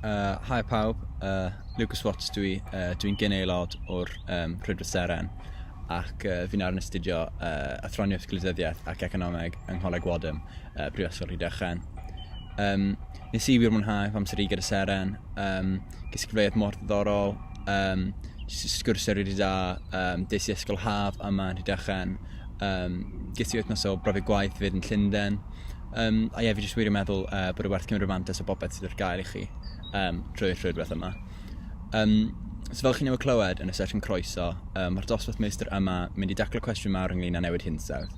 Uh, hi pawb, uh, Lucas Watts dwi, uh, dwi'n gyn aelod o'r um, Prydwyr Seren ac uh, fi'n ar yn astudio uh, athroniaeth glidyddiaeth ac economeg yng Ngholeg Wadham, uh, Prifysgol Rhydychen. Um, nes i wir mwynhau fy amser i gyda Seren, um, ges i gyfleoedd mor ddiddorol, um, sgwrsio rydw i da, um, des i ysgol haf yma yn Rhydychen, um, ges i wythnos o brofi gwaith fyd yn Llundain, Um, a ie, fi jyst wir yn meddwl uh, bod y werth cymryd mantis o bobeth sydd ar gael i chi um, drwy'r rhywbeth yma. Um, so fel chi newydd clywed yn y sesiwn croeso, um, mae'r dosbarth meistr yma mynd i daclo cwestiwn mawr ynglyn â newid hinsawdd.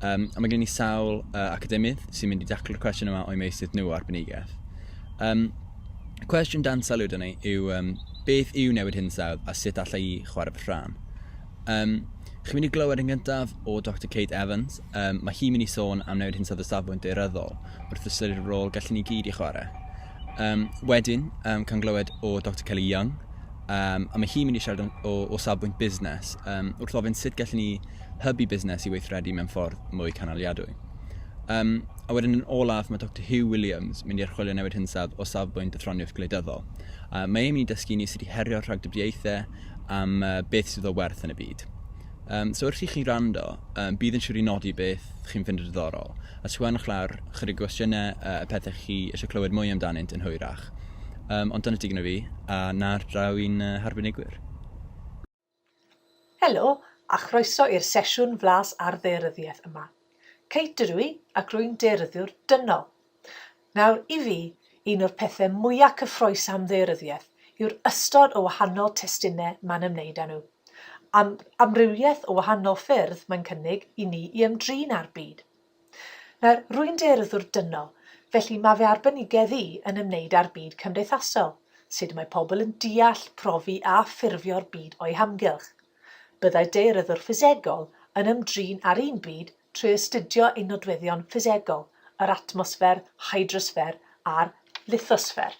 Um, a mae gen i sawl uh, academydd sy'n mynd i daclo'r cwestiwn yma o'i meisydd nhw arbenigaeth. Um, cwestiwn dan sylw dyn ni yw um, beth yw newid hinsawdd a sut allai i chwarae fy rhan? Um, chi'n mynd i glywed yn gyntaf o Dr Kate Evans. Um, mae hi'n mynd i sôn am newid hinsawdd y safbwynt deiryddol wrth ystyried y rôl gallen ni gyd i chwarae. Um, wedyn, um, cael glywed o Dr Kelly Young, um, a mae hi'n mynd i siarad o, o safbwynt busnes um, wrth ofyn sut gallen ni hybu busnes i weithredu mewn ffordd mwy canaliadwy. Um, a wedyn yn olaf, mae Dr Hugh Williams mynd i archwilio newid hinsawdd o safbwynt y ffroniaeth gwleidyddol. Uh, mae e'n mynd i dysgu ni sut i herio rhagdybiaethau tip am uh, beth sydd o werth yn y byd. Um, so wrth i chi rando, um, bydd yn siŵr i nodi beth chi'n fynd yn ddiddorol, a sgwenwch lawr chydig gwestiynau uh, y pethau chi eisiau clywed mwy amdanynt yn hwyrach. Um, ond dyna digon o fi, a na'r draw i'n uh, harbenigwyr. Helo, a chroeso i'r sesiwn flas ar ddearyddiaeth yma. Kate dydw i, ac rwy'n dearyddiwr dynol. Nawr, i fi, un o'r pethe mwya' cyffrous am ddaearyddiaeth yw'r ystod o wahanol testune mae'n ymwneud â nhw, a'r amrywiaeth o wahanol ffyrdd mae'n cynnig i ni i ymdrin â'r byd. Nawr, rwy'n daearyddwr dynol, felly mae fy arbenigedd i yn ymwneud â'r byd cymdeithasol, sut mae pobl yn deall, profi a ffurfio'r byd o'u hamgylch. Byddai daearyddwr ffisegol yn ymdrin â'r un byd trwy astudio ei nodweddion ffisegol, yr atmosffer, hydrosffer a'r lithosffer.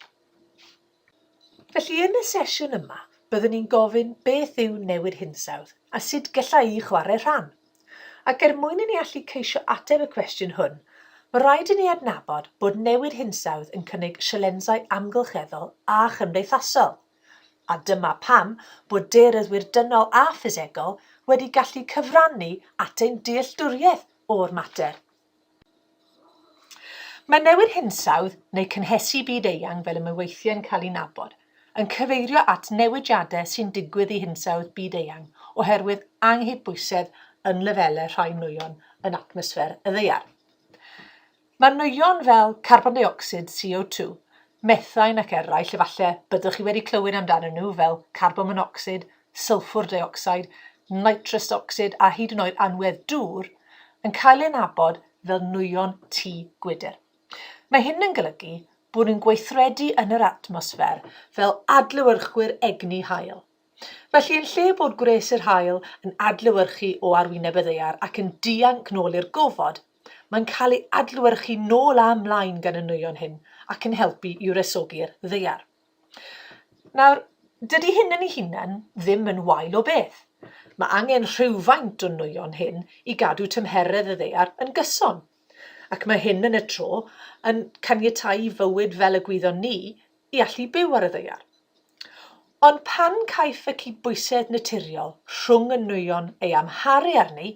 Felly, yn y sesiwn yma, byddwn ni'n gofyn beth yw newid hinsawdd a sut gellai'i chwarae rhan. Ac er mwyn i ni allu ceisio ateb y cwestiwn hwn, mae rhaid i ni adnabod bod newid hinsawdd yn cynnig sialensau amgylcheddol a chymdeithasol. A dyma pam bod daearyddwyr dynol a ffisegol wedi gallu cyfrannu at ein dealltwriaeth o'r mater. Mae newid hinsawdd, neu cynhesu byd eang fel y mae weithiau yn cael ei nabod, yn cyfeirio at newidiadau sy'n digwydd i hinsawdd byd eang oherwydd anghydbwysedd yn lefelau rhai nwyon yn atmosffer y Ddaear. Mae nwyon fel carbon deuocsid, CO2, methain ac eraill efallai byddwch chi wedi clywed amdanyn nhw fel carbon monocsid, sylffwr deuocsid, nitrous ocsid a hyd yn oed anwedd dŵr, yn cael eu nabod fel nwyon tŷ gwydr. Mae hyn yn golygu bod nhw'n gweithredu yn yr atmosffer fel adlewyrchwyr egni haul. Felly, yn lle bod gwres yr haul yn adlewyrchu o arwyneb y ddaear ac yn dianc nôl i'r gofod, mae'n cael ei adlewyrchu nôl a mlaen gan y nwyon hyn ac yn helpu i wresogi'r ddaear. Nawr, dydy hyn yn ei hunan ddim yn wael o beth. Mae angen rhywfaint o nwyon hyn i gadw tymheredd y ddaear yn gyson. Ac mae hyn yn y tro yn caniatáu i fywyd fel y gwyddon ni i allu byw ar y ddaear. Ond pan caiff y cydbwysedd naturiol rhwng y nwyon ei amharu arni,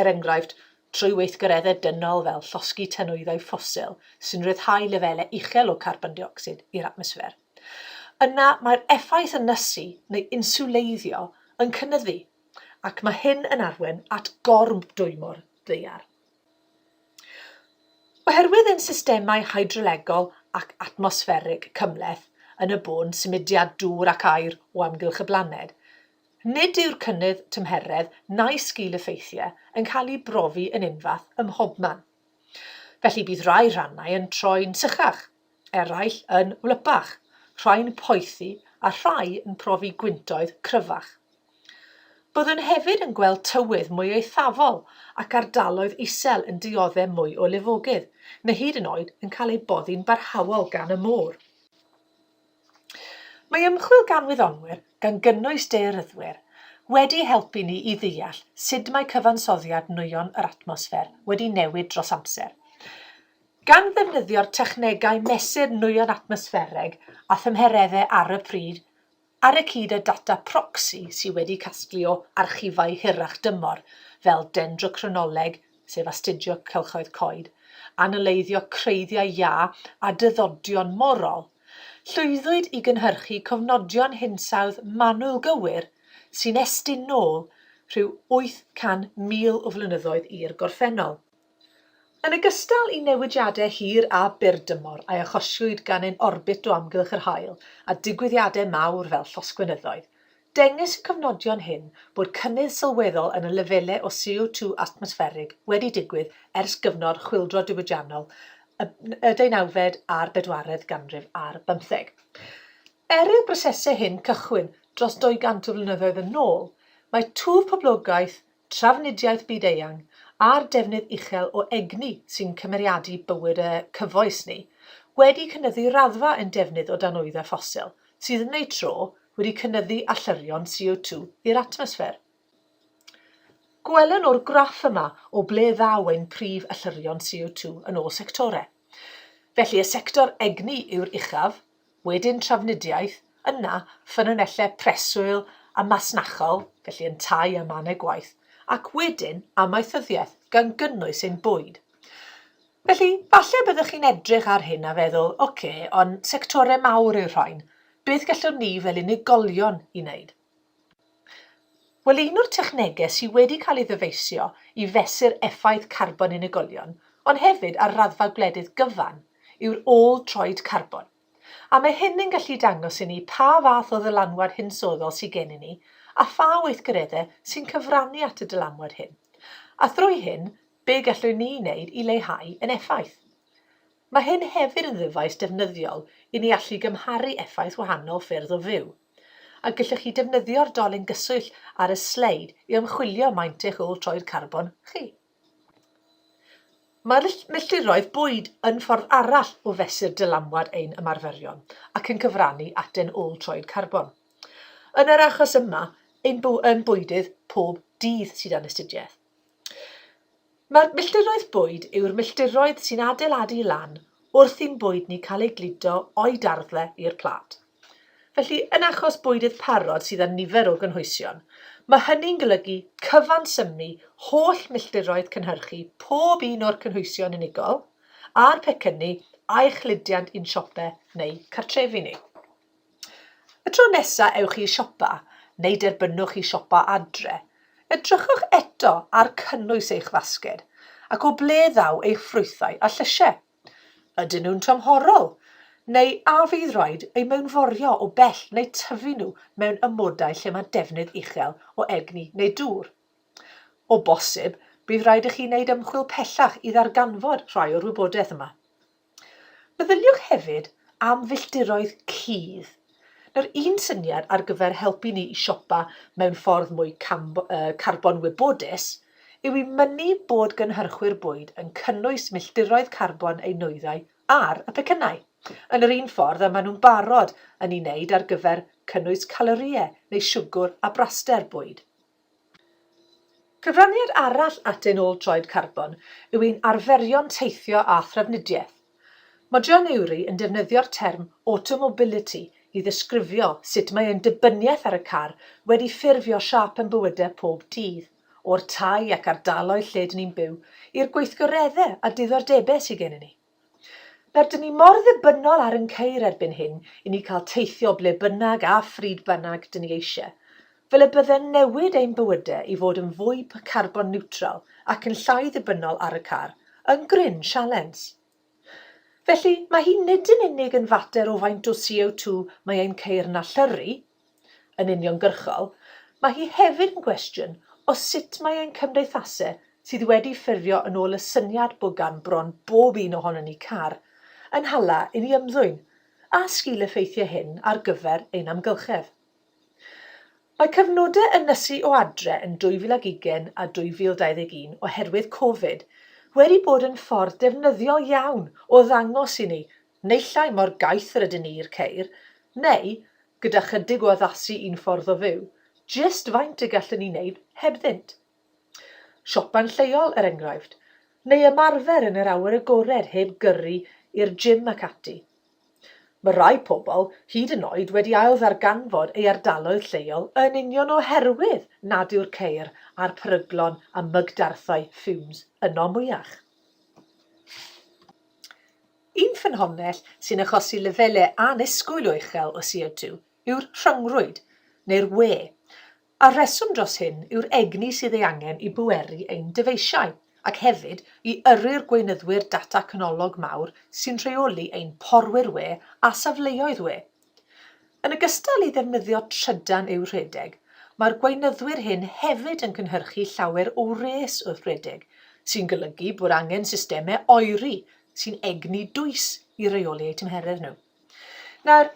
er enghraifft, trwy weithgareddau dynol fel llosgi tanwyddau ffosil sy'n rhyddhau lefelau uchel o carbon deuocsid i'r atmosffer, yna mae'r effaith ynysu neu inswleiddio yn cynyddu, ac mae hyn yn arwain at gormdwymo'r ddaear. Oherwydd ein systemau hydrolegol ac atmosfferig cymhleth yn y bôn symudiad dŵr ac aer o amgylch y blaned, nid yw'r cynnydd tymheredd na'i sgil-effeithiau yn cael eu brofi yn unfath ym mhobman. Felly bydd rhai rhannau yn troi'n sychach, eraill yn wlypach, rhai'n poethi a rhai yn profi gwyntoedd cryfach. Byddwn hefyd yn gweld tywydd mwy eithafol ac ardaloedd isel yn diodde' mwy o lifogydd, neu hyd yn oed yn cael eu boddi'n barhaol gan y môr. Mae ymchwil gan wyddonwyr, gan gynnwys daearyddwyr, wedi helpu ni i ddeall sut mae cyfansoddiad nwyon yr atmosffer wedi newid dros amser. Gan ddefnyddio'r technegau mesur nwyon atmosffereg a thymhereddau ar y pryd ar y cyd â data proxy sydd wedi casglu o archifau hirach dymor fel dendrochronoleg, sef astudio cylchoedd coed, analeiddio creiddiau iâ a dyddodion morol, llwyddwyd i gynhyrchu cofnodion hinsawdd manwl gywir sy'n estyn nôl rhyw 800,000 o flynyddoedd i'r gorffennol. Yn ogystal i newidiadau hir a byrdymor a achosiwyd gan ein orbit o amgylch yr haul a digwyddiadau mawr fel llosgfynyddoedd, dengys y cofnodion hyn bod cynnydd sylweddol yn y lefelau o CO2 atmosfferig wedi digwydd ers gyfnod chwyldro diwydiannol y deunawfed a'r bedwaredd ganrif ar bymtheg. Er i'r brosesau hyn cychwyn dros 200 o flynyddoedd yn ôl, mae twf poblogaeth trafnidiaeth byd-eang a'r defnydd uchel o egni sy'n cymeriadu bywyd y cyfoes ni, wedi cynyddu raddfa ein defnydd o danwyddau ffosil, sydd yn eu tro wedi cynyddu allyrrion CO2 i'r atmosffer. Gwelwn o'r graff yma o ble ddaw ein prif allyrrion CO2 yn ôl sectorau. Felly, y sector egni yw'r uchaf, wedyn trafnidiaeth, yna ffynonellau preswyl a masnachol, felly yntau a mannau gwaith, ac wedyn amaethyddiaeth, gan gynnwys ein bwyd. Felly, falle byddwch chi'n edrych ar hyn a feddwl, oce, ond sectorau mawr yw'r rhain, beth gallwn ni fel unigolion i wneud? Wel, un o'r technegau sydd wedi cael ei ddyfeisio i fesur effaith carbon unigolion, ond hefyd ar raddfa gwledydd gyfan, yw'r ôl-droed carbon. A mae hyn yn gallu dangos i ni pa fath o ddylanwad hinsoddol sydd gennym ni a pha weithgareddau sy'n cyfrannu at y dylanwad hyn, a thrwy hyn, be gallwn ni wneud i leihau ein effaith. Mae hyn hefyd yn ddyfais defnyddiol i ni allu gymharu effaith wahanol ffyrdd o fyw. A gellwch chi defnyddio'r dolyn gyswllt ar y sleid i ymchwilio maint eich ôl troed carbon chi. Mae'r milltiroedd bwyd yn ffordd arall o fesur dylanwad ein ymarferion ac yn cyfrannu at ein ôl troed carbon. Yn yr achos yma, ein bwydydd pob dydd sydd yn astudiaeth. Mae'r milltiroedd bwyd yw'r milltiroedd sy'n adeiladu lan wrth i'n bwyd ni cael ei gludo o'i darddle i'r plât. Felly, yn achos bwydydd parod sydd â nifer o gynhwysion, mae hynny'n golygu cyfansymnu holl milltiroedd cynhyrchu pob un o'r cynhwysion unigol a'r pecynnu a'i chludiant i'n siope neu cartrefi ni. Y tro nesa ewch i siopa, neu derbynwch i siopa adre, edrychwch eto ar cynnwys eich fasged ac o ble ddaw eich ffrwythau a llysiau. Ydyn nhw'n tymhorol, neu a fydd rhaid eu mewnforio o bell neu tyfu nhw mewn amodau lle mae defnydd uchel o egni neu dŵr? O bosib, bydd rhaid i chi wneud ymchwil pellach i ddarganfod rhai o'r wybodaeth yma. Meddyliwch hefyd am filltiroedd cudd. Nawr, un syniad ar gyfer helpu ni i siopa mewn ffordd mwy carbon wybodus yw i mynnu bod gynhyrchwyr bwyd yn cynnwys milltiroedd carbon eu nwyddau ar y pecynnau, yn yr un ffordd y maen nhw'n barod yn ei wneud ar gyfer cynnwys calorïau neu siwgr a braster bwyd. Cyfraniad arall at ein ôl troed carbon yw ein arferion teithio a thrafnidiaeth. Mae John Eury yn defnyddio'r term 'automobility' i ddisgrifio sut mae ein dibyniaeth ar y car wedi ffurfio siâp ein bywydau pob dydd, o'r tai ac ardaloedd lle 'dyn ni'n byw, i'r gweithgareddau a diddordebau sy gennym ni. Rydyn ni mor ddibynnol ar yn ceir erbyn hyn i ni cael teithio ble bynnag a phryd bynnag dyn ni eisiau, fel y bydde'n newid ein bywydau i fod yn fwy carbon niwtral ac yn llai ddibynnol ar y car, yn gryn sialens. Felly, mae hi nid yn unig yn fater o faint o CO2 mae ein ceir yn allyrru, yn uniongyrchol, mae hi hefyd yn gwestiwn o sut mae ein cymdeithase sydd wedi ffurfio yn ôl y syniad bod gan bron bob un ohonon ni car, yn hala i ni ymddwyn, a sgil-effeithiau hyn ar gyfer ein amgylchedd. Mae cyfnodau ynysu o adre yn 2020 a 2021 oherwydd Covid wedi bod yn ffordd defnyddiol iawn o ddangos i ni Neillai mor gaeth yr ydyn ni i'r ceir, neu, gyda chydig o addasu i'n ffordd o fyw, jyst faint y gallwn ni wneud hebddynt. Siopa'n lleol, er enghraifft, neu ymarfer yn yr awyr agored heb gyrru i'r gym ac ati. Mae rhai pobl hyd yn oed wedi ailddarganfod ei ardaloedd lleol yn union oherwydd nad yw'r ceir a'r peryglon a mygdarthau fumes yno mwyach. Un ffynhonnell sy'n achosi lefelau annisgwyl o uchel o CO2 yw'r rhyngrwyd, neu'r wê, a'r rheswm dros hyn yw'r egni sydd ei angen i bweru ein dyfeisiau, ac hefyd i yrru'r gweinyddwyr data canolog mawr sy'n rheoli ein porwyr wê a safleoedd wê. Yn ogystal i ddefnyddio trydan i'w rhedeg, mae'r gweinyddwyr hyn hefyd yn cynhyrchu llawer o wres wrth redeg, sy'n golygu bod angen systemau oeri sy'n egni dwys i reoli eu tymheredd nhw. Nawr,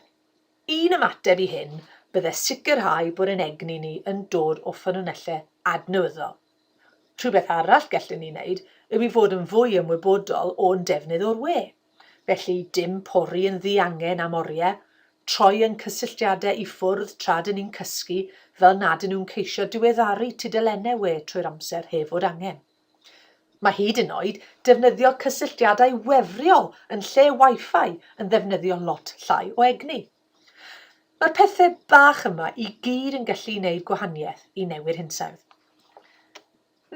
un ymateb i hyn bydde sicrhau bod ein egni ni yn dod o ffynonellau adnewyddol, Rhywbeth arall gellwn ni wneud yw i fod yn fwy ymwybodol o'n defnydd o'r we. Felly, dim pori yn ddiangen am oriau, troi ein cysylltiadau i ffwrdd tra dŷn ni'n cysgu fel nad ŷn nhw'n ceisio diweddaru tudalennau we trwy'r amser heb fod angen. Mae hyd yn oed defnyddio cysylltiadau wefriol yn lle Wi-Fi yn ddefnyddio lot llai o egni. Mae'r pethe bach yma i gyd yn gallu neud gwahaniaeth i newid hinsawdd.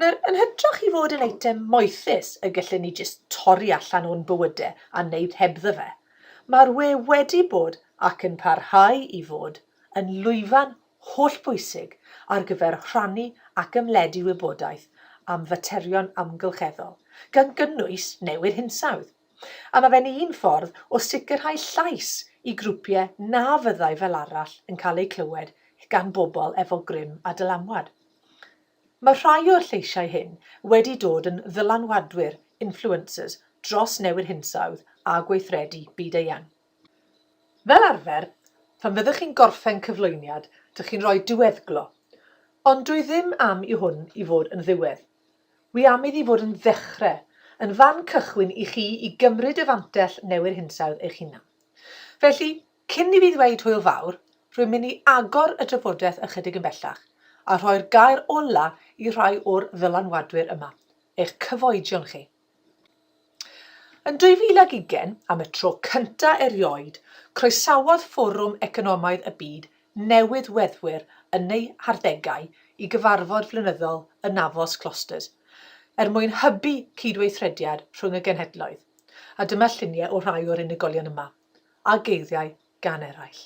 Nawr, yn hytrach i fod yn eitem moethus y gallwn ni jyst torri allan o'n bywyde a neud hebddo fe, mae'r we wedi bod ac yn parhau i fod yn lwyfan hollbwysig ar gyfer rhannu ac ymledu wybodaeth am faterion amgylcheddol, gan gynnwys newid hinsawdd. A mae fe'n un ffordd o sicrhau llais i grwpiau na fyddai fel arall yn cael eu clywed gan bobl efo grym a dylanwad. Mae rhai o'r lleisiau hyn wedi dod yn ddylanwadwyr, influencers, dros newid hinsawdd a gweithredu byd-eang. Fel arfer, phan fyddwch chi'n gorffen cyflwyniad, dych chi'n rhoi diweddglo, ond dwi ddim am i hwn i fod yn ddiwedd. Wi am iddi fod yn ddechre, yn fan cychwyn i chi i gymryd y fantell newyr hinsawdd eich hunan. Felly, cyn i fi ddweud hwyl fawr, rwy'n mynd i agor y drafodeth ychydig yn bellach, a rhoi'r gair ola i rhai o'r ddylanwadwyr yma, eich cyfoedion chi. Yn 2020, am y tro cyntaf erioed, croesawodd Fforwm Economaidd y Byd newydd weddwyr yn eu harddegau i gyfarfod flynyddol y Navos Clusters, er mwyn hybu cydweithrediad rhwng y genhedloedd, a dyma lluniau o rhai o'r unigolion yma, a geiriau gan eraill.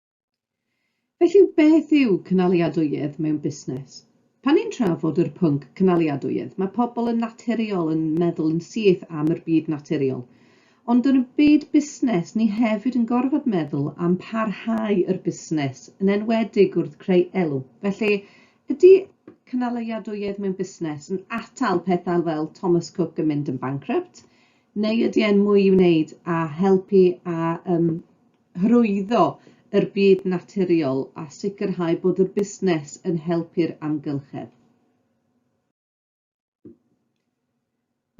Felly beth yw cynaliadwyedd mewn busnes? Pan ni'n trafod yr pwnc cynaliadwyedd, mae pobl yn naturiol yn meddwl yn syth am yr byd naturiol. Ond yn y byd busnes, ni hefyd yn gorfod meddwl am parhau yr busnes, yn enwedig wrth creu elw. Felly, ydy cynaliadwyedd mewn busnes yn atal pethau fel Thomas Cook yn mynd yn bankrupt, neu ydy e'n mwy i wneud a helpu a um, hyrwyddo yr byd naturiol a sicrhau bod y busnes yn helpu'r amgylchedd.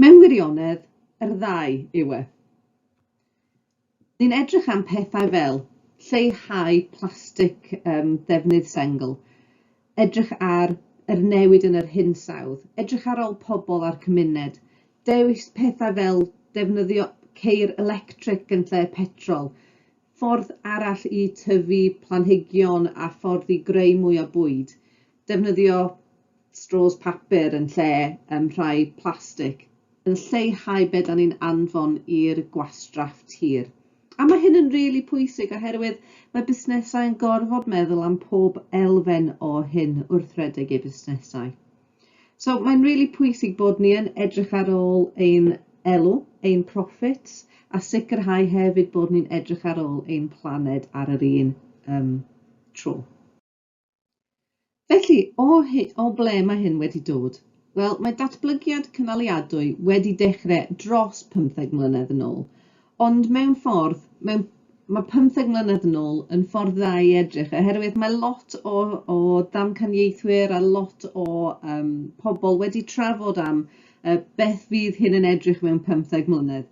Mewn wirionedd, yr ddau yw e. Ni'n edrych am pethau fel lleihau plastig um, ddefnydd sengl, edrych ar yr newid yn yr hinsawdd, edrych ar ol pobl a'r cymuned, dewis pethau fel defnyddio ceir electric yn lle petrol, ffordd arall i tyfu planhigion a ffordd i greu mwy o bwyd, defnyddio straws papur yn lle yym rhai plastig. yn lleihau be' 'dan ni'n anfon i'r gwastraff tir. A ma' hyn yn rili pwysig oherwydd mae busnesau yn gorfod meddwl am pob elfen o hyn wrth redeg eu busnesau. So mae'n rili pwysig bod ni yn edrych ar ôl ein elw, ein profits, a sicrhau hefyd bod ni'n edrych ar ôl ein planed ar yr un um, tro. Felly, o, o ble mae hyn wedi dod? Wel, mae datblygiad cynaliadwy wedi dechrau dros 15 mlynedd yn ôl, ond mewn ffordd, mewn, mae 15 mlynedd yn ôl yn ffordd dda i edrych, oherwydd mae lot o, o ddamcaniaethwyr a lot o um, pobl wedi trafod am uh, beth fydd hyn yn edrych mewn 15 mlynedd.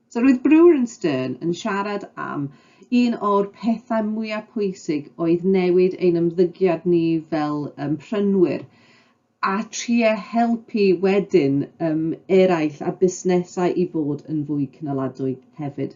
So roedd Brewer and Stern yn siarad am un o'r pethau mwyaf pwysig oedd newid ein ymddygiad ni fel um, prynwyr a trio helpu wedyn um, eraill a busnesau i fod yn fwy cynaladwy hefyd.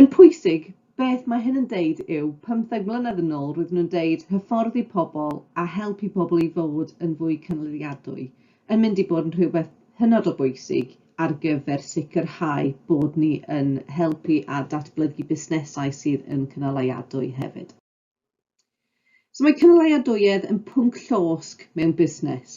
Yn pwysig, beth mae hyn yn deud yw, pymtheg mlynedd yn ôl roedden nhw'n deud hyfforddi pobl a helpu pobl i fod yn fwy cynaliadwy yn mynd i bod yn rhywbeth hynod o bwysig ar gyfer sicrhau bod ni yn helpu a datblygu busnesau sydd yn cynaliadwy hefyd. So mae cynaliadwyedd yn pwnc llosg mewn busnes.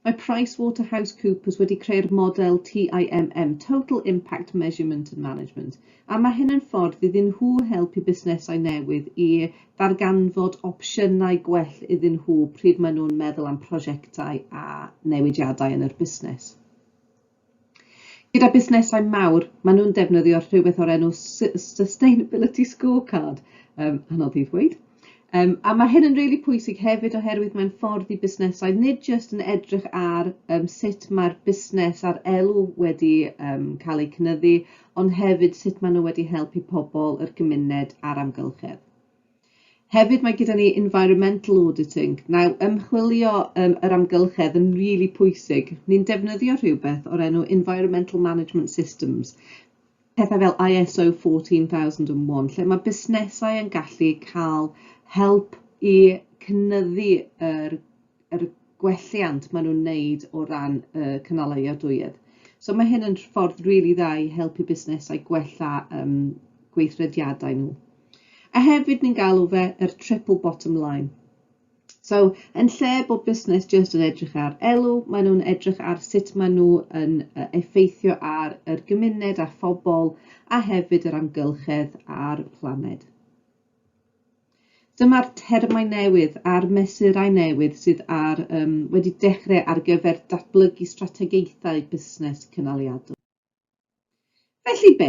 Mae PricewaterhouseCoopers wedi creu'r model TIMM, Total Impact Measurement and Management, a mae hyn yn ffordd iddyn nhw helpu busnesau newydd i ddarganfod opsiynau gwell iddyn nhw pryd maen nhw'n meddwl am prosiectau a newidiadau yn yr busnes. Gyda busnesau mawr, maen nhw'n defnyddio rhywbeth o'r enw Sustainability Scorecard, um, anodd i ddweud. Um, a mae hyn yn rili really pwysig hefyd oherwydd mae'n ffordd i busnesau nid jyst yn edrych ar um, sut mae'r busnes a'r elw wedi um, cael eu cynyddu, ond hefyd sut maen nhw wedi helpu pobl, yr gymuned a'r amgylchedd. Hefyd mae gyda ni environmental auditing. Nawr, ymchwilio um, yr amgylchedd yn rili really pwysig. Ni'n defnyddio rhywbeth o'r enw Environmental Management Systems, pethau fel ISO 14001, lle mae busnesau yn gallu cael help i cynnyddu yr, yr gwelliant maen nhw'n wneud o ran y uh, cynalau iadwyedd. So mae hyn yn ffordd rili really dda i helpu busnesau gwella um, gweithrediadau nhw. A hefyd ni'n galw fe yr triple bottom line. So, yn lle bod busnes jyst yn edrych ar elw, maen nhw'n edrych ar sut maen nhw yn effeithio ar yr gymuned a phobl a hefyd yr amgylchedd a'r planed. Dyma'r termau newydd a'r mesurau newydd sydd ar, um, wedi dechrau ar gyfer datblygu strategaethau busnes cynaliadwy. Felly be?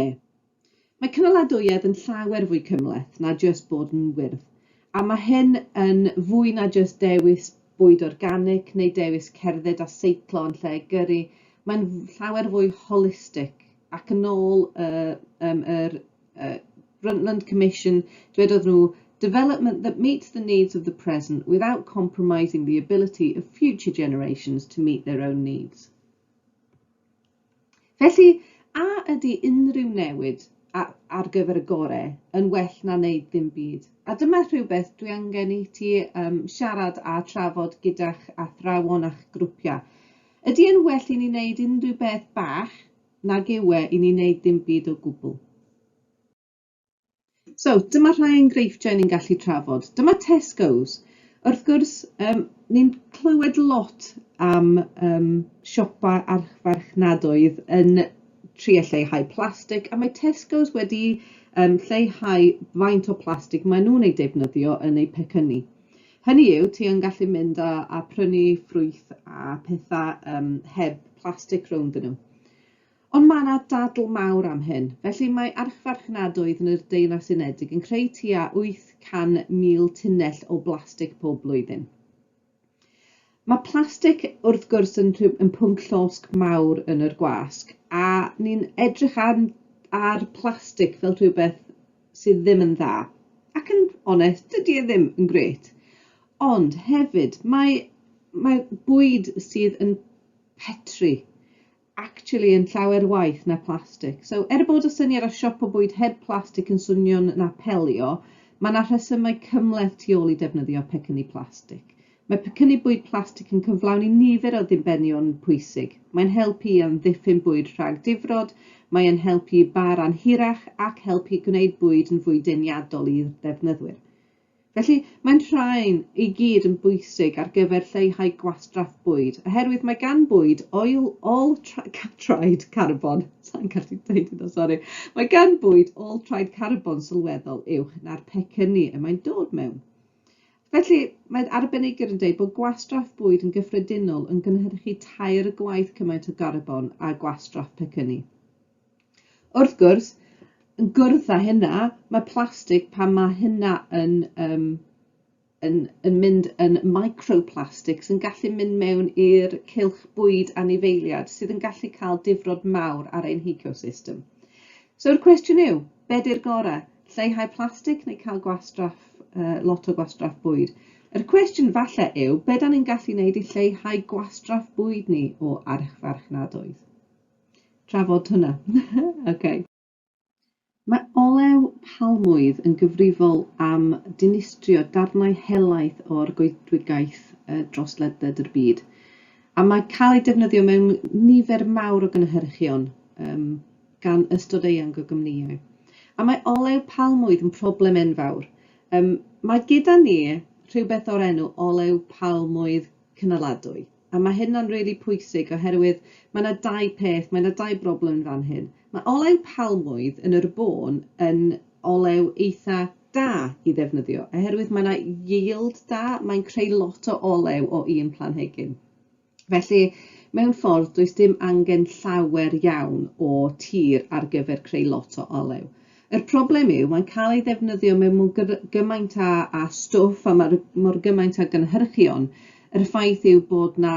Mae cynaladwyedd yn llawer fwy cymhleth na jyst bod yn wyrdd, a mae hyn yn fwy na jyst dewis bwyd organig neu dewis cerdded a seiclo yn lle gyrru, mae'n llawer fwy holistig, ac yn ôl y, um, yr uh, Brundtland Commission, dwedodd nhw, development that meets the needs of the present without compromising the ability of future generations to meet their own needs. Felly, a ydy unrhyw newid ar gyfer y gorau yn well na wneud ddim byd? A dyma rhywbeth dwi angen i ti um, siarad a trafod gyda'ch athrawon a'ch grwpiau. Ydy e'n well i ni wneud unrhyw beth bach nag yw e i ni wneud ddim byd o gwbl? So, dyma rhai enghreifftiau ni'n gallu trafod. Dyma Tesco's. Wrth gwrs, um, ni'n clywed lot am um, siopa archfarchnadoedd yn tri a lleihau plastig, a mae Tesco's wedi um, lleihau faint o plastig maen nhw'n ei defnyddio yn eu pecynnu. Hynny yw, ti yn gallu mynd a, a prynu ffrwyth a pethau um, heb plastig rownd nhw. Ond mae yna dadl mawr am hyn. Felly, mae archfarchnadoedd yn yr Deyrnas Unedig yn creu tua 800,000 tunnell o blastig pob blwyddyn. Mae plastig, wrth gwrs, yn, yn pwnc llosg mawr yn yr gwasg, a ni'n edrych ar, ar plastig fel rhywbeth sydd ddim yn dda. Ac yn onest, dydy e ddim yn gret. Ond hefyd, mae, mae bwyd sydd yn petru actually yn llawer waeth na plastic. So, er bod y syniad o siopa bwyd heb plastic yn swnio'n apelio, mae yna rhesymau cymhleth tu ôl i defnyddio pecynnu plastic. Mae pecynnu bwyd plastic yn cyflawni nifer o ddibenion pwysig. Mae'n helpu i amddiffyn bwyd rhag difrod, mae yn helpu i bâr anhirach ac helpu gwneud bwyd yn fwy deniadol i'r defnyddwyr. Felly, mae'n rhain i gyd yn bwysig ar gyfer lleihau gwastraff bwyd, oherwydd mae gan bwyd ôl ôl-traed carbon, sa i'n gallu dweud hynna, sori, mae gan bwyd ôl-traed carbon sylweddol uwch na'r pecynnu y mae'n dod mewn. Felly, mae arbenigwyr yn dweud bod gwastraff bwyd yn gyffredinol yn gynhyrchu tair gwaith cymaint o garbon â gwastraff pecynnu. Wrth gwrs, yn gwrdd â hynna, mae plastig, pan mae hynna yn, um, yn, yn mynd yn microplastics, yn gallu mynd mewn i'r cilch bwyd anifeiliad, sydd yn gallu cael difrod mawr ar ein hecosystem. So'r cwestiwn yw, be di'r gorau? Lleihau plastig neu cael gwastraff, uh, lot o gwastraff bwyd? Yr cwestiwn falle yw, be da ni'n gallu wneud i lleihau gwastraff bwyd ni o archfarchnadoedd? trafod hwnna. Ocê. Mae olew palmwydd yn gyfrifol am dinistrio darnau helaeth o'r goedwigaeth dros ledled y byd, a mae cael ei defnyddio mewn nifer mawr o gynhyrchion, gan ystod eang o gwmnïau. A mae olew palmwydd yn problem enfawr. Mae gyda ni rhywbeth o'r enw olew palmwydd cynaladwy. A mae hynna'n rili pwysig oherwydd mae yna dau peth, mae yna dau broblem yn fan hyn. Mae olew palmwydd yn yr bôn yn olew eitha da i ddefnyddio oherwydd mae yna yield da, mae'n creu lot o olew o un planhigyn. Felly, mewn ffordd, does dim angen llawer iawn o tir ar gyfer creu lot o olew. Yr problem yw, mae'n cael ei ddefnyddio mewn mor gymaint a a stwff a mae mor gymaint a gynhyrchion. Yr ffaith yw bod 'na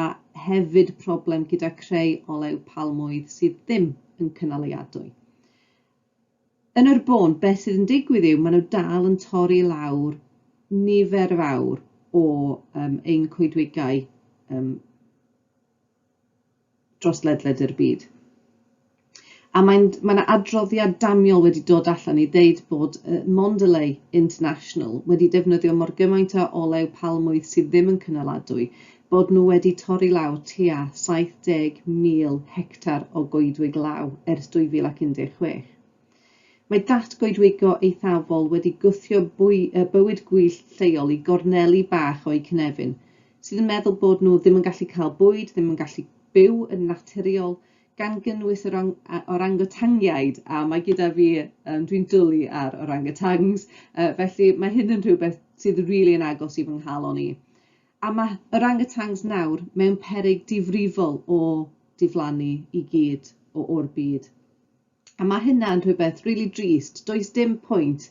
hefyd problem gyda creu olew palmwydd sydd ddim yn cynaliadwy. Yn yr bôn, beth sydd yn digwydd yw, maen nhw dal yn torri lawr nifer fawr o um, ein coedwigau um, dros ledled yr byd. A mae'n, mae yna adroddiad damiol wedi dod allan i ddeud bod uh, Mondelez International wedi defnyddio mor gymaint o olew palmwydd sydd ddim yn cynaladwy, bod nhw wedi torri law tua 70,000 hectar o goedwig law ers 2016. Mae datgoedwigo eithafol wedi gwthio bywyd gwyllt lleol i gorneli bach o'u cynefin, sydd yn meddwl bod nhw ddim yn gallu cael bwyd, ddim yn gallu byw yn naturiol, gan gynnwys yr orangotangiaid, a mae gyda fi, um, dwi'n dwlu ar orangotangs, uh, felly mae hyn yn rhywbeth sydd rili really yn agos i fy nghalon i. A mae orangotangs nawr mewn peryg difrifol o diflannu i gyd o o'r byd. A mae hynna'n rhywbeth rili drist, does dim pwynt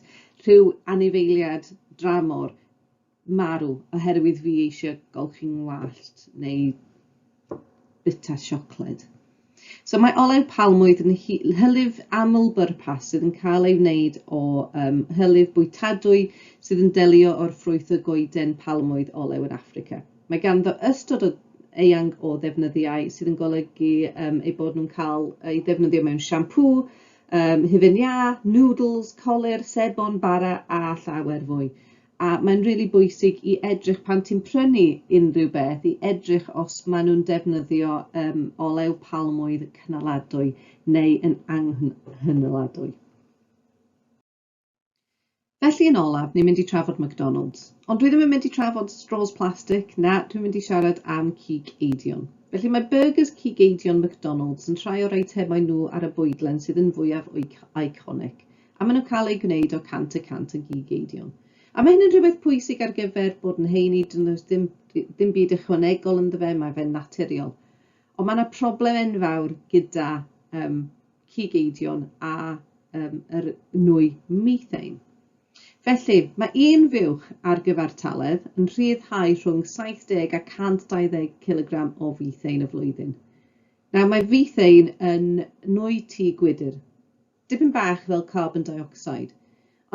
rhyw anifeiliad dramor marw oherwydd fi eisiau golchi ngwallt neu bita siocled. So mae olew palmwydd yn hylif aml bwrpas sydd yn cael ei wneud o um, hylif bwytadwy sydd yn delio o'r ffrwyth y goeden palmwydd olew yn Affrica. Mae ganddo ystod o eang o ddefnyddiau sydd yn golygu um, eu bod nhw'n cael eu defnyddio mewn siampŵ, um, hufen iâ, noodles, colir, sebon, bara a llawer fwy. A mae'n rili really bwysig i edrych pan ti'n prynu unrhyw beth, i edrych os maen nhw'n defnyddio um, olew palmwydd cynaladwy neu yn anghynaladwy. Felly yn olaf, ni'n mynd i trafod McDonalds. Ond dwi ddim yn mynd i trafod straws plastig, na, dwi'n mynd i siarad am cig eidion. Felly mae byrgys cig eidion McDonalds yn rhai o'r eitemau nhw ar y bwydlen sydd yn fwyaf iconic, a maen nhw'n cael eu gwneud o 100 y cant yn gig eidion. A mae hyn yn rhywbeth pwysig ar gyfer bod yn heini, dyn nhw ddim, ddim byd ychwanegol ynddo fe, mae fe'n naturiol. Ond mae yna problem enfawr gyda um, cig eidion a um, yr nwy methane. Felly, mae un fuwch ar gyfartaledd yn rhyddhau rhwng 70 a 120 kg o fethane y flwyddyn. Nawr, mae fethane yn nwy tu gwydr, dipyn bach fel carbon dioxide,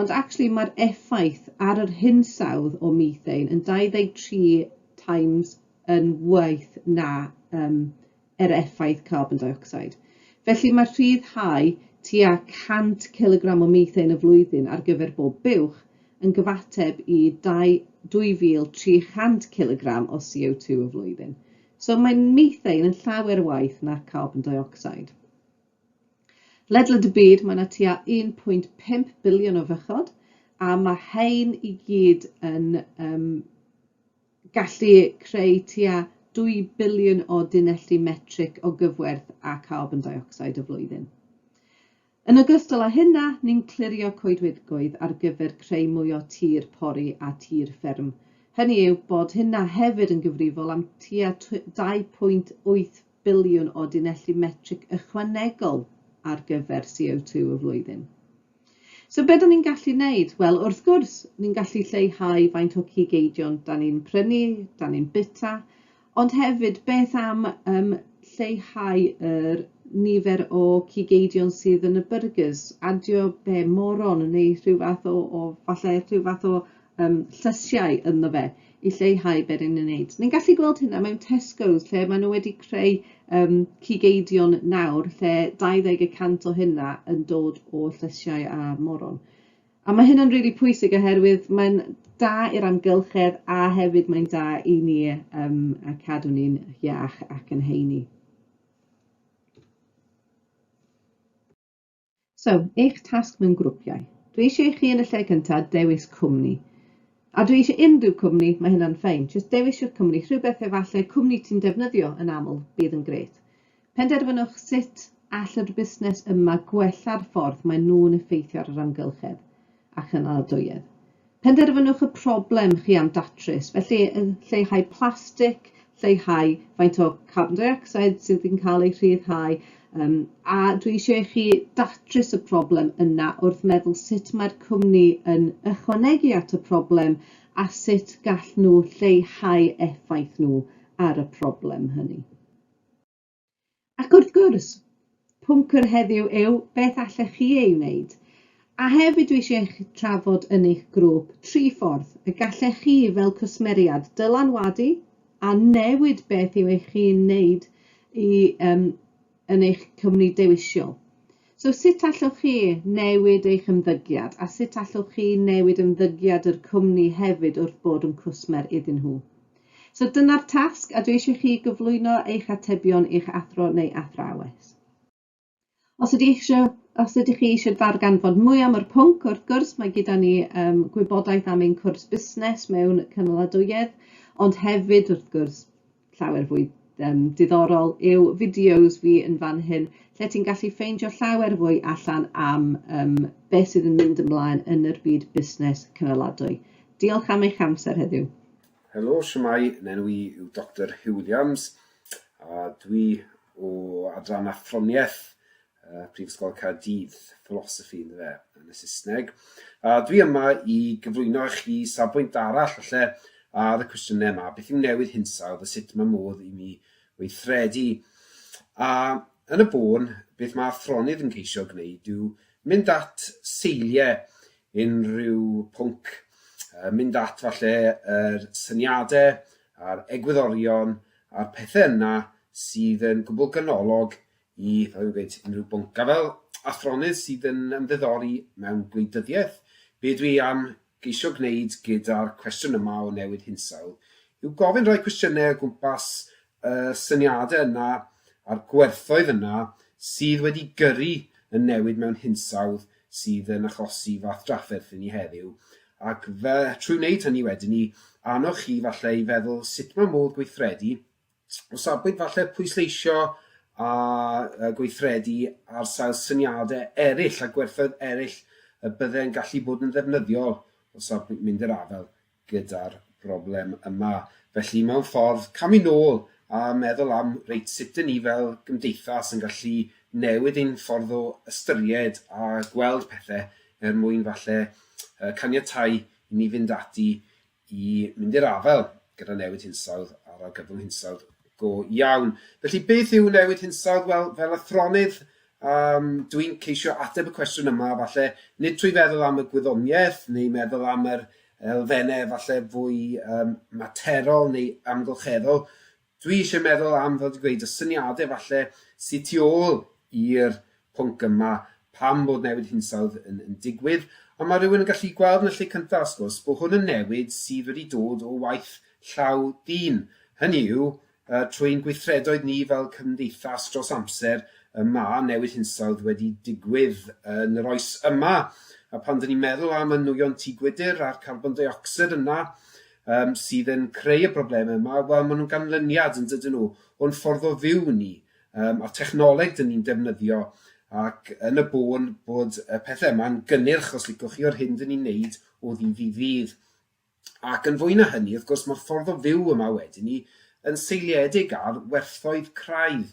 Ond actually mae'r effaith ar yr hinsawdd o methane yn 23 times yn waith na um, yr effaith carbon dioxide. Felly mae rhyddhau tua 100 cilogram o methane y flwyddyn ar gyfer bob buwch yn gyfateb i 2,300 cilogram o CO2 y flwyddyn. So mae methane yn llawer waith na carbon dioxide. Ledled y byd mae yna tua 1.5 biliwn o fychod a mae hein i gyd yn um, gallu creu tua 2 biliwn o dunelli metrig o gyfwerth a carbon deuocsid y flwyddyn. Yn ogystal â hynna, ni'n clirio coedwigoedd ar gyfer creu mwy o tir pori a tir fferm, hynny yw bod hynna hefyd yn gyfrifol am tua 2.8 biliwn o dunelli metrig ychwanegol ar gyfer CO2 y flwyddyn. So be da ni'n gallu wneud? Wel, wrth gwrs, ni'n gallu lleihau faint o cig eidion da ni'n prynu, da ni'n bita, ond hefyd beth am um, lleihau yr nifer o cig eidion sydd yn y burgers, adio be moron neu rhyw fath o, o falle rhyw fath o um, llysiau ynddo fe i lleihau beth yn ei wneud. Ni'n gallu gweld hynna mewn Tesco's lle maen nhw wedi creu um, cigeidion nawr lle 20 y cant o hynna yn dod o llysiau a moron. A mae hynna'n rili really pwysig oherwydd mae'n da i'r amgylchedd a hefyd mae'n da i ni um, a cadw ni'n iach ac yn heini. So, eich tasg mewn grwpiau. Dwi eisiau i chi yn y lle cynta dewis cwmni. A dwi eisiau unrhyw cwmni, mae hynna'n ffein. Jyst dewis yw'r cwmni, rhywbeth efallai cwmni ti'n defnyddio yn aml bydd yn grêt. Penderfynwch sut all yr busnes yma gwella'r ffordd mae nhw'n effeithio ar yr amgylchedd. a chynaliadwyedd. Penderfynwch y problem chi am datrys, felly lleihau plastig, lleihau faint o carbon dioxide sydd yn cael ei rhyddhau, um, a dwi eisiau i chi datrys y problem yna wrth meddwl sut mae'r cwmni yn ychwanegu at y problem a sut gall nhw lleihau effaith nhw ar y problem hynny. Ac wrth gwrs, pwnc yr heddiw yw beth allech chi ei wneud. A hefyd dwi eisiau eich trafod yn eich grŵp tri ffordd y gallech chi fel cwsmeriad dylanwadu a newid beth yw eich chi'n wneud i, um, yn eich cwmni dewisio. So sut allwch chi newid eich ymddygiad a sut allwch chi newid ymddygiad yr cwmni hefyd wrth bod yn cwsmer iddyn nhw? So dyna'r tasg a dwi eisiau chi gyflwyno eich atebion i'ch athro neu athrawes. Os ydych, eisiau, os ydych chi eisiau darganfod mwy am yr pwnc, wrth gwrs mae gyda ni um, gwybodaeth am ein cwrs busnes mewn cynaladwyedd, ond hefyd wrth gwrs llawer fwy um, diddorol yw fideos fi yn fan hyn lle ti'n gallu ffeindio llawer fwy allan am um, beth sydd yn mynd ymlaen yn yr byd busnes cynaladwy. Diolch am eich amser heddiw. Helo, shwmae, nenw i yw Doctor Huw Williams a dwi o adran athroniaeth uh, Prifysgol Caerdydd, philosophy yn fe, yn y Saesneg. A dwi yma i gyflwyno i chi safbwynt arall falle ar y cwestiynau yma, beth yw newid hinsawdd a sut mae modd i mi weithredu. A yn y bôn, beth mae athronydd yn ceisio gwneud yw mynd at seiliau unrhyw pwnc, yy mynd at falle yr syniade a'r egwyddorion a'r pethe yna sydd yn gwbwl ganolog i, fel fi'n gweud, unrhyw bwnc. A fel athronydd sydd yn ymddiddori mewn gwleidyddiaeth, be dwi am geisio gwneud gyda'r cwestiwn yma o newid hinsawdd yw gofyn rhai cwestiyne o gwmpas y syniadau yna a'r gwerthoedd yna sydd wedi gyrru y newid mewn hinsawdd sydd yn achosi fath drafferth i ni heddiw, ac fe, trwy wneud hynny wedyn ni, annog chi falle i feddwl sut mae modd gweithredu o safbwynt falle pwysleisio a gweithredu ar sail syniadau eraill a gwerthoedd eraill y byddai'n gallu bod yn ddefnyddiol o safbwynt mynd i'r afael gyda'r broblem yma. Felly, mewn ffordd, camu nôl a meddwl am, reit, sut dŷn ni fel gymdeithas yn gallu newid ein ffordd o ystyried a gweld pethau er mwyn falle caniatáu i ni fynd ati i mynd i'r afael gyda newid hinsawdd a'r argyfwng hinsawdd go iawn. Felly, beth yw newid hinsawdd? Wel, fel athronydd, Yym, dwi'n ceisio ateb y cwestiwn yma, falle, nid trwy feddwl am y gwyddoniaeth neu meddwl am yr elfennau falle fwy um, materol neu amgylcheddol. Dwi eisiau meddwl am, fel dwi'n gweud, y syniadau falle sydd tu ôl i'r pwnc yma pam bod newid hinsawdd yn, yn digwydd. Ond mae rhywun yn gallu gweld yn y lle cyntaf, sgwrs, bod hwn yn newid sydd wedi dod o waith llaw dyn. Hynny yw, Trwy ein gweithredoedd ni fel cymdeithas dros amser, y mae newid hinsawdd wedi digwydd yn yr oes yma, a phan dyn ni'n meddwl am y nwyon tŷ gwydr a'r carbon deuocsid yna um, sydd yn creu y broblemau yma, wel, maen nhw'n ganlyniad, yn dydyn nhw, o'n ffordd o fyw ni, um, a technoleg dyn ni'n defnyddio, ac yn y bôn bod y pethau yma'n gynnyrch, os licwch chi, o'r hyn dyn ni'n neud o ddydd i ddydd. Ac yn fwy na hynny, wrth gwrs, mae'r ffordd o fyw yma wedi ni yn seiliedig ar werthoedd craidd.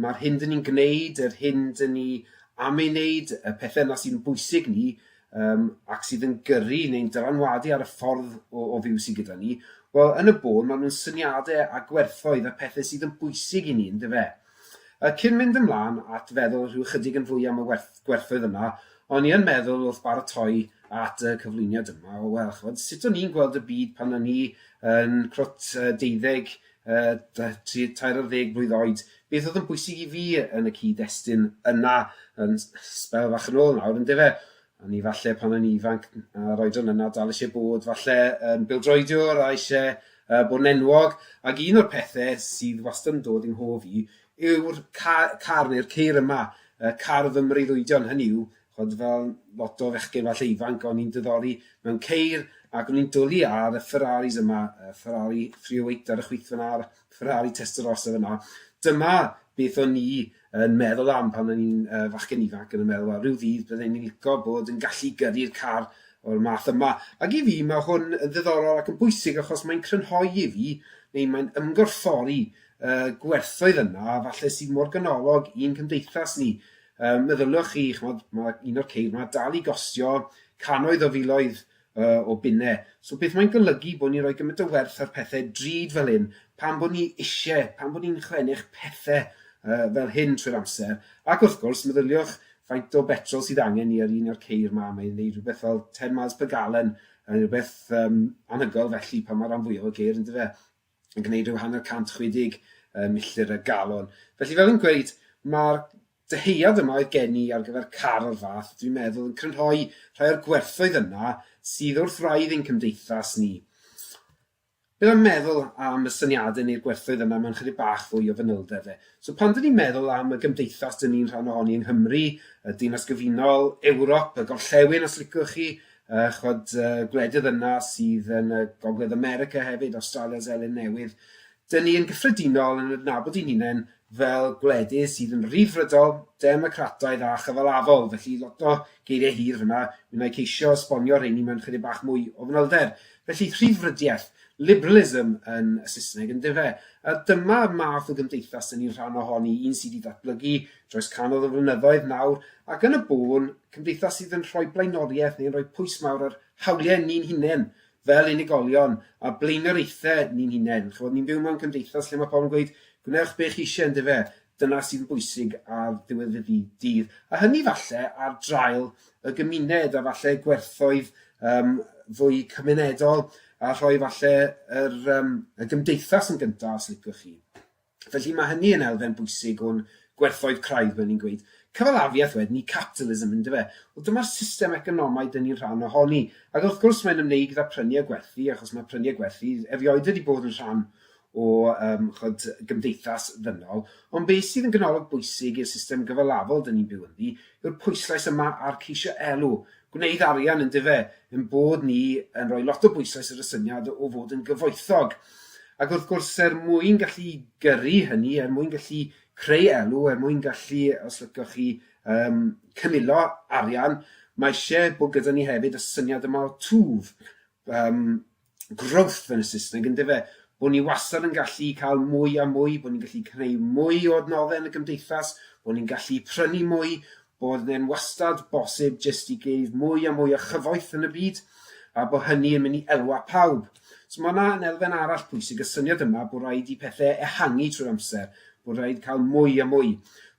Mae'r hyn dyn ni'n gwneud, yr hyn dyn ni am ei wneud, y pethau yna sy'n bwysig ni um, ac sydd yn gyrru neu'n dylanwadu ar y ffordd o, o fyw sydd gyda ni, wel, yn y bôn, maen nhw'n syniadau a gwerthoedd a pethau sydd yn bwysig i ni, ynddo fe? Cyn mynd ymlaen at feddwl rhyw ychydig yn fwy am y gwerthoedd yma, o'n i yn meddwl wrth baratoi at y cyflwyniad yma, o wel, ch'mod, sut o'n i'n gweld y byd pan o'n i yn crwt deuddeg, tri, tair ar ddeg blwydd oed, beth oedd yn bwysig i fi yn y cyd-destun yna yn sbel fach yn ôl nawr, yndyfe? O'n i falle pan o'n i'n ifanc, a'r oedran yna, dal eisiau bod falle yn bildroediwr a eisiau uh, bod yn enwog. Ac un o'r pethau sydd wastad yn dod i'n hof i yw'r car, car neu'r ceir yma, uh, car fy mreiddwydion, hynny yw, chod fel lot o fechgyn falle ifanc, o'n i'n dyddori mewn ceir ac o'n i'n dwlu ar y Ferraris yma, y Ferrari 308 ar y chwith fyna, Ferrari Testarossa fyna. Dyma beth o'n i yn meddwl am pan o'n i'n uh, fachgen ifanc yn y meddwl, rhyw ddydd byddwn ni'n licio bod yn gallu gyrru'r car o'r math yma. Ac i fi, mae hwn yn ddiddorol ac yn bwysig achos mae'n crynhoi i fi, neu mae'n ymgorffori uh, gwerthoedd yna, a falle sydd mor ganolog i'n cymdeithas ni. Um, meddyliwch chi, chmod, mae un o'r ceir yma dal i gostio cannoedd o filoedd o bunne. So beth mae'n golygu bod ni'n rhoi gymaint o werth ar pethau drud fel hyn, pan bod ni isie, pan bod ni'n chlennych pethau uh, fel hyn trwy'r amser, ac wrth gwrs, meddyliwch faint o betrol sydd angen ni ar un o'r ceir yma, mae'n gwneud rhywbeth fel 10 miles per gallon, yn rhywbeth um, anhygol felly pan mae rhan fwyaf o geir yn dyfa. yn gwneud rhyw hanner 160 uh, milltir y galon. Felly fel yn gweud, mae'r dyheuad yma oedd gen i ar gyfer car o'r fath, dwi'n meddwl yn crynhoi rhai o'r gwerthoedd yna sydd wrth raidd ein cymdeithas ni. Bydd am meddwl am y syniadau neu'r gwerthoedd yna mewn chydig bach fwy o fanylder fe. So pan dyn ni'n meddwl am y gymdeithas dyn ni'n rhan ohoni yng Nghymru, y Dinas Gyfunol, Ewrop, y Gorllewin os licwch chi, A chibod, y gwledydd yna sydd yn y Gogledd America hefyd, Awstralia, Seland Newydd, dyn ni yn gyffredinol yn adnabod i'n hunain fel gwledydd sydd yn Ryddfrydol, Democrataidd a Chyfalafol, felly lot o geiriau hir fyna, mi wna i ceisio esbonio rheini mewn chydig bach mwy o fanylder. Felly, rhyddfrydiaeth, liberalism yn y Saesneg, yn dyfe? A dyma math o gymdeithas dyn ni'n rhan ohoni, un sydd wedi datblygu Dros cannoedd o flynyddoedd nawr, ac yn y bôn, cymdeithas sydd yn rhoi blaenoriaeth neu'n rhoi pwys mawr ar hawliau ni'n hunain, fel unigolion, a blaenoriaethau ni'n hunain. Chymod, ni'n byw mewn cymdeithas lle mae pobl yn gweud, gwnewch be chi eisiau, yndyfe? Dyna sy'n bwysig ar ddiwedd y dydd. A hynny falle ar draul y gymuned, a falle gwerthoedd um, fwy cymunedol, a rhoi falle yr, um, y gymdeithas yn gyntaf, os licwch chi. Felly, mae hynny yn elfen bwysig o'n gwerthoedd craidd, fel ni'n gweud. Cyfalafiaeth wedyn i capitalism, yn dyfe? Wel, dyma'r system economaidd dŷn ni'n rhan ohoni. Ac wrth gwrs, mae'n ymwneud gyda prynu a gwerthu, achos mae prynu a gwerthu erioed wedi bod yn rhan o um, chod, gymdeithas ddynol. Ond beth sydd yn ganolog bwysig i'r system gyfalafol dŷn ni'n byw ynddi yw'r pwyslais yma ar ceisio elw. gwneud arian yndyfe, ein bod ni yn rhoi lot o bwyslais ar y syniad o fod yn gyfoethog. Ac wrth gwrs, er mwyn gallu gyrru hynny, er mwyn gallu creu elw, er mwyn gallu, os lycoch chi, um, cynilo arian, mae eisiau bod gyda ni hefyd y syniad yma o twf, um, growth yn y Saesneg, yn dyfe? Bod ni wastad yn gallu cael mwy a mwy, bod ni'n gallu creu mwy o adnoddau yn y gymdeithas, bod ni'n gallu prynu mwy, bod e'n wastad bosib jyst i geif mwy a mwy o chyfoeth yn y byd, a bod hynny yn mynd i elwa pawb. So mae yna yn elfen arall pwysig y syniad yma bod rhaid i pethau ehangu trwy'r amser, bod rhaid cael mwy a mwy.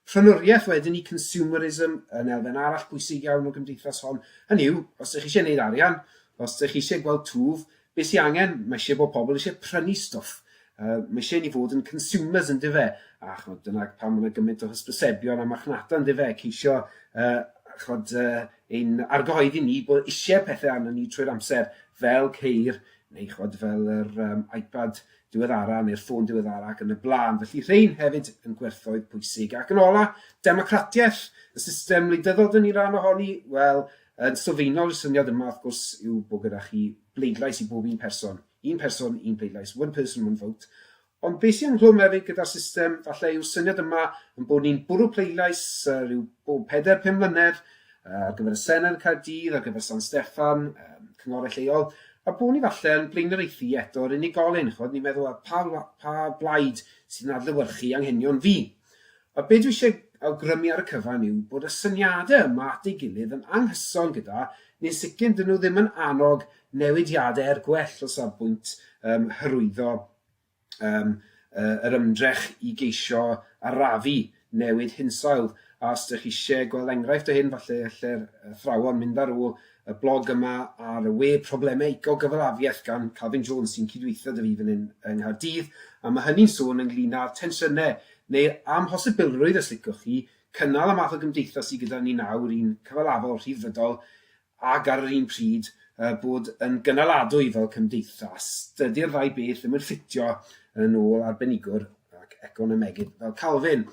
Prynwriaeth wedyn i consumerism yn elfen arall pwysig iawn o gymdeithas hon. Hynny yw, os ydych chi eisiau gwneud arian, Os dych chi eisiau gweld twf, beth sy'n angen, mae eisiau bod pobl eisiau prynu stwff. Uh, mae eisiau ni fod yn consumers yn dife, a chod, dyna pan mae'n gymaint o hysbysebion a marchnata yn dife, ceisio uh, chod, uh, ein argyhoeddi ni bod eisiau pethau arno ni trwy'r amser, fel ceir, neu chod, fel yr um, iPad diweddara neu'r ffôn diweddara ac yn y blaen. Felly rhain hefyd yn gwerthoedd pwysig. Ac yn ola, democratiaeth, y system wleidyddol dyn ni ran ohoni, wel, Yn sylfaenol, y syniad yma, wrth gwrs, yw bod gyda chi bleidlais i bob un person. Un person, un pleidlais, one person, one vote. Ond beth sy'n ynghlwm hefyd gyda'r system, falle yw'r syniad yma yn bod ni'n bwrw pleidlais uh, rhyw bob peder pum mlynedd uh, ar gyfer y Senedd yn Caerdydd, ar gyfer San Steffan, um, cyngorau lleol, a bod ni falle yn blaenoriaethu eto'r unigolyn, chod ni'n meddwl pa, pa blaid sy'n adlywyrchu anghenion fi. A be dwi eisiau awgrymu ar y cyfan yw bod y syniadau yma at ei gilydd yn anghyson gyda, neu'n sicr 'dyn nhw ddim yn annog newidiadau er gwell o safbwynt um, hyrwyddo um, uh, yr ymdrech i geisio arafu newid hinsawdd. A os ydych chi eisiau gweld enghraifft o hyn, falle lle'r athrawon mynd ar ôl y blog yma ar y we Problemau Ecogyfalafiaeth gan Calvin Jones sy'n cydweithio 'da fi fan hyn yng Nghaerdydd a ma' hynny'n sôn ynglŷn â'r tensiynau neu'r amhosibilrwydd os licwch chi cynnal y math o gymdeithas sy gyda ni nawr, un cyfalafol, rhyddfrydol ac ar yr un pryd yy bod yn gynaladwy fel cymdeithas. Dydy'r ddau beth ddim yn ffitio yn ôl arbenigwr ac economegydd fel Calvin.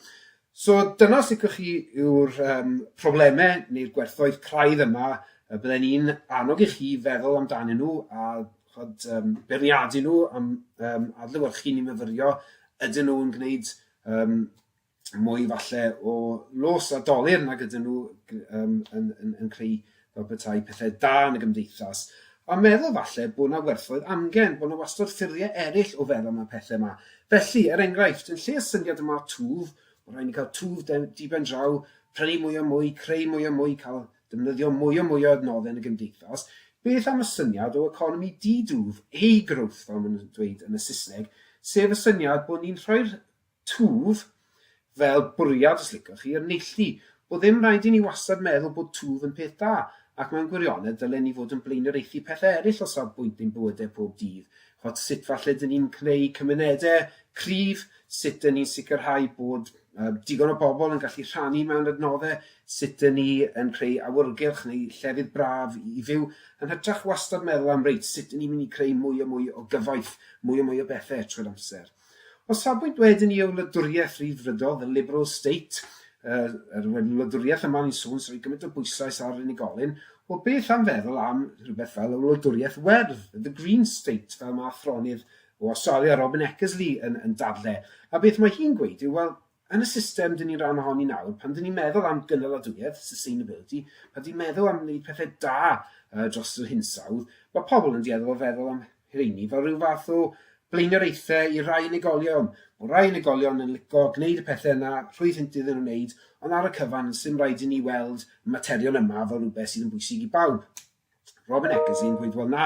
So dyna os licwch chi yw'r um, problemau neu'r gwerthoedd craidd yma y bydden i'n annog i chi feddwl amdanyn nhw a chod, um, beirniadu nhw am um, adlywyrchu ni myfyrio ydyn nhw'n gwneud um, mwy falle o los a dolyr nag ydyn nhw um, yn, yn, yn creu fel petai pethau da yn y gymdeithas, a meddwl falle bod 'na werthoedd amgen, bod 'na wastod ffyrddie eryll o feddwl am y pethe 'ma. Felly, er enghraifft, yn lle y syniad yma o twf, ma' rhai' ni ca'l twf de- dibendraw, prynu mwy a mwy, creu mwy a mwy, ca'l defnyddio mwy a mwy o adnodde yn y gymdeithas, beth am y syniad o economi di-dwf, A-growth fel ma' nw'n dweud yn y Sysneg, sef y syniad bod ni'n rhoi'r Twf, fel bwriad os licwch chi, yn neilltu. Bo ddim rhaid i ni wastad meddwl bod twf yn peth da, ac mewn gwirionedd ddylen ni fod yn blaenoriaethu pethau eraill o safbwynt ein bywydau pob dydd, ch'od sut falle dyn ni'n cneu cymunedau cryf, sut dyn ni'n sicrhau bod yy digon o bobl yn gallu rhannu mewn adnoddau, sut dyn ni yn creu awyrgylch neu llefydd braf i fyw, yn hytrach wastad meddwl am reit, sut dyn ni'n mynd i creu mwy a mwy o gyfoeth, mwy a mwy o bethau trwy'r amser. O safbwynt wedyn i y wladwriaeth Ryddfrydol, the Liberal State, yr, yr wladwriaeth yma ni'n sôn sy'n rhoi gymaint o bwyslais ar unigolyn, wel beth am feddwl am rhywbeth fel y wladwriaeth werdd, the Green State, fel mae athronydd o Awstralia, Robin Eckersley, yn, yn dadle. A beth mae hi'n gweud yw, wel, Yn y system dyn ni'n ran ohoni nawr, pan dyn ni'n meddwl am gynaladwyedd, sustainability, pan dyn ni'n meddwl am wneud pethau da uh, dros yr hinsawdd, mae pobl yn dueddol o feddwl am rheini fel rhyw fath o blaenoriaethau i rai unigolion. Mae rai unigolion yn lico gwneud y pethau yna rhwydd hynt iddyn nhw wneud, ond ar y cyfan, sy'n rhaid i ni weld y materion yma fel rhywbeth sydd yn bwysig i bawb. Robin Eccles yn gweud wel na,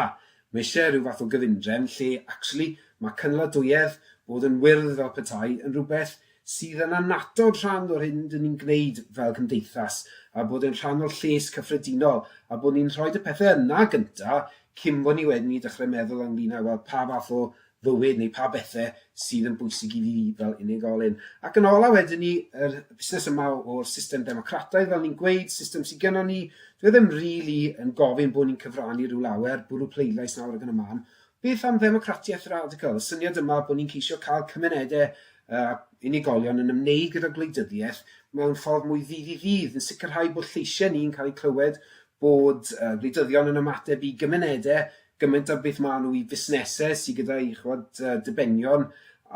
mae eisiau rhyw fath o gyfundrefn lle actually mae cynaladuedd, bod yn wyrdd fel petai, yn rhywbeth sydd yn annatod rhan o'r hyn dyn ni'n gwneud fel cymdeithas a bod e'n rhan o'r lles cyffredinol a bod ni'n rhoid y pethau yna gynta cyn bod ni wedyn i dechrau meddwl ynglyn â wel pa fath o fywyd neu pa bethe sydd yn bwysig i fi fel unigolyn. Ac yn ola wedyn ni, yr busnes yma o'r system democrataidd, fel ni'n gweud, system sydd gennon ni, dwi ddim rili yn gofyn bod ni'n cyfrannu rhyw lawer, bwrw pleidlais nawr ac yn y man. Beth am ddemocratiaeth radical, y syniad yma bod ni'n ceisio cael cymunedau a unigolion yn ymwneud gyda gwleidyddiaeth mewn ffordd mwy ddydd i ddydd, yn sicrhau bod lleisiau ni'n cael eu clywed, bod gwleidyddion yn ymateb i gymunedau gymaint a beth maen nhw i fusnesau sydd gyda'i chwad, uh, dibenion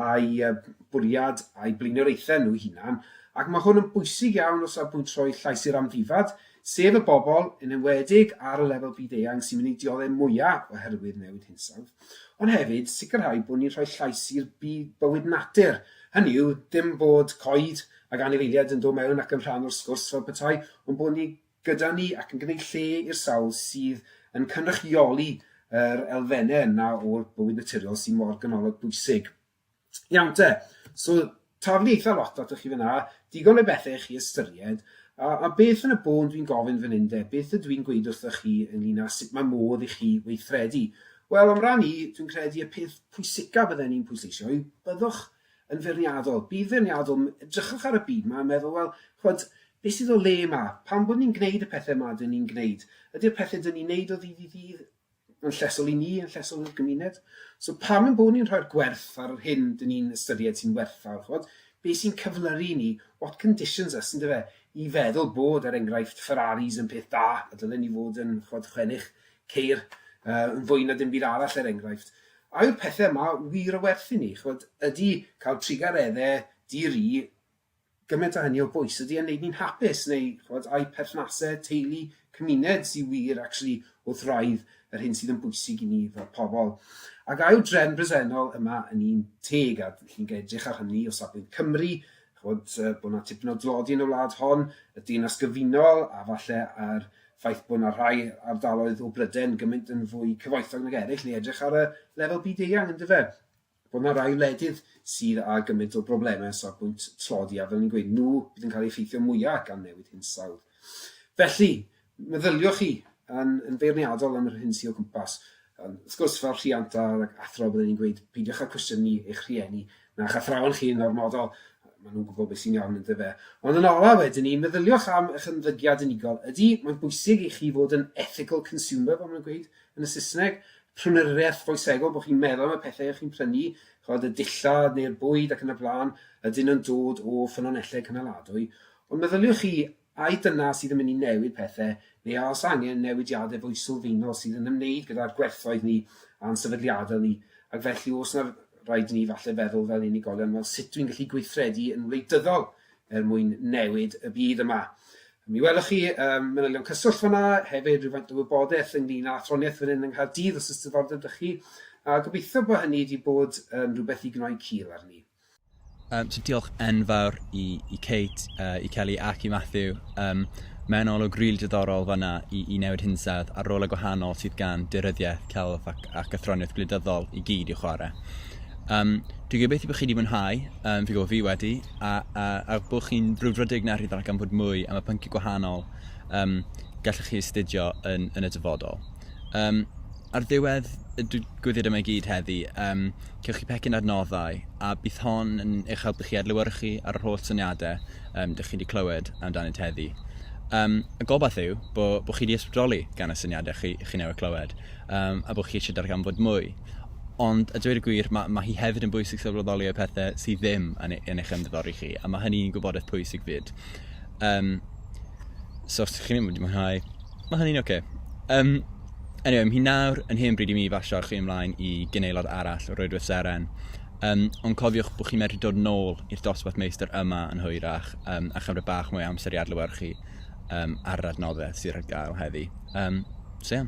a'i uh, bwriad a'i blaenoriaethau nhw hunan, ac mae hwn yn bwysig iawn o safbwynt rhoi llais i'r amddifad, sef y bobl, yn enwedig ar y lefel byd-eang sy'n mynd i dioddef mwyaf oherwydd newid hinsawdd, ond hefyd sicrhau bod ni'n rhoi llais i'r byd bywyd natur, hynny yw, dim bod coed ac anifeiliaid yn dod mewn ac yn rhan o'r sgwrs fel petai, ond bod ni'n gyda ni ac yn gwneud lle i'r sawl sydd yn cynrychioli yr elfennau yna o'r bywyd naturiol sy'n mor ganolog bwysig. Iawn te, so taflu eitha lot atoch chi fyna, digon o bethau i chi ystyried, a, a beth yn y bôn dwi'n gofyn fan hyn de, beth ydw i'n gweud wrthoch chi ynglyn â sut mae modd i chi weithredu? Wel, am ran i, dwi'n credu y peth pwysicaf bydden i'n pwysleisio yw byddwch yn feirniadol, byd feirniadol, edrychwch ar y byd 'ma a meddwl, wel, ch'mod, beth sydd o le 'ma? Pam bod ni'n gwneud y pethau 'ma 'dyn ni'n gwneud? Ydy'r pethau 'dyn ni'n wneud o ddydd i ddydd yn llesol i ni, yn llesol i'r gymuned? So pam ein bod ni'n rhoi'r gwerth ar yr hyn 'dyn ni'n ystyried sy'n werthfawr, ch'mod? Be sy'n cyflyru ni, what conditions us, yndyfe, i feddwl bod, er enghraifft, Ferraris yn peth da, a dylen ni fod yn, ch'mod, chwennych ceir yn fwy na dim byd arall er enghraifft. A yw'r pethe yma wir o werth i ni? Ch'mod, ydy cael trugaredde di-ri gymaint o hynny o bwys? Ydy e'n neud ni'n hapus neu ch'mod ai perthnase teulu, cymuned sy wir actually wrth wraidd yr hyn sydd yn bwysig i ni fel pobl? Ac a yw'r drefn bresennol yma yn un teg a chi'n edrych ar hynny o safbwynt Cymru ch'mod, yy, bod 'na tipyn o dlodi yn y wlad hon, y Deyrnas Gyfunol, a falle a'r ffaith bod 'na rhai ardaloedd o Bryden gymaint yn fwy cyfoethog nag eraill, neu edrych ar y lefel byd-eang, yn dyfe? Bod 'na rai wledydd sydd â gymaint o broblemau o safbwynt tlodi, a fel ni'n gweud, nhw bydd yn cael eu effeithio mwyaf gan newid hinsawdd. Felly, Meddyliwch chi yn, yn feirniadol am yr hyn sydd o gwmpas. Wrth gwrs, fel rhiant a athro, byddwn i'n gweud, peidiwch â cwestiynu eich rhieni na'ch athrawon chi yn ormodol, maen nhw'n gwybod beth sy'n iawn yn dyfe. Ond yn olaf wedyn ni, meddyliwch am eich ymddygiad unigol. Ydy, mae'n bwysig i chi fod yn ethical consumer, fel mae'n gweud yn y Saesneg, prynwriaeth foesegol, bod chi'n meddwl am y pethau chi'n prynu, chod y dillad neu'r bwyd ac yn y blaen, ydyn nhw'n dod o ffynonellau cynaladwy. Ond meddyliwch chi Ai dyna sydd yn mynd i newid pethe, neu a oes angen newidiadau fwy sylfaenol sydd yn ymwneud gyda'r gwerthoedd ni a'n sefydliadau ni, ac felly oes 'na raid i ni falle feddwl fel unigolion, wel sut dwi'n gallu gweithredu yn wleidyddol er mwyn newid y byd yma? Mi welwch chi um, manylion cyswllt fanna, hefyd rhywfaint o wybodaeth ynglyn â athroniaeth fan hyn yng Nghaerdydd os ys diddordeb dych chi, a gobeithio bod hynny wedi bod yn rhywbeth i gnoi cil arni. Um, so diolch enfawr i, i Kate, uh, i Kelly ac i Matthew. Um, Mae'n olwg rili really diddorol fanna i, i newid hinsawdd a'r rôl y gwahanol sydd gan dyryddiaeth, celf ac, ac athroniaeth gwleidyddol i gyd i'w chwarae. Um, dwi'n gobeithio bod chi wedi mwynhau, um, fi gwybod fi wedi, a, a, a bod chi'n brwdfrydig na rhyddol ac am fod mwy am y pynciau gwahanol um, gallwch chi astudio yn, yn y dyfodol. Um, ar ddiwedd y gwyddiad yma i gyd heddi, um, Cewch chi pecyn adnoddau a bydd hon yn eich helpu chi adlewyrchu ar yr holl syniadau um, dych chi wedi clywed amdanynt heddi. Um, y gobaith yw bod bo chi wedi ysbrydoli gan y syniadau chi, chi newydd clywed um, a bod chi eisiau darganfod mwy. Ond, a dweud y gwir, mae, mae hi hefyd yn bwysig sylweddoli y pethau sydd ddim yn, e, yn eich ymddiddori chi, a mae hynny'n gwybodaeth pwysig fyd. Um, so, os ydych chi'n mynd i mwynhau Mae hynny'n ok. Yym, anyway, mae hi nawr yn hen bryd i mi basio chi ymlaen i gynaelod arall o Roedwyth Seren. Um, ond cofiwch bod chi'n medru dod nôl i'r dosbarth meistr yma yn hwyrach um, a chymryd bach mwy amser i adlywyrchu um, ar yr adnoddau sydd ar gael heddi. Um, so, yeah.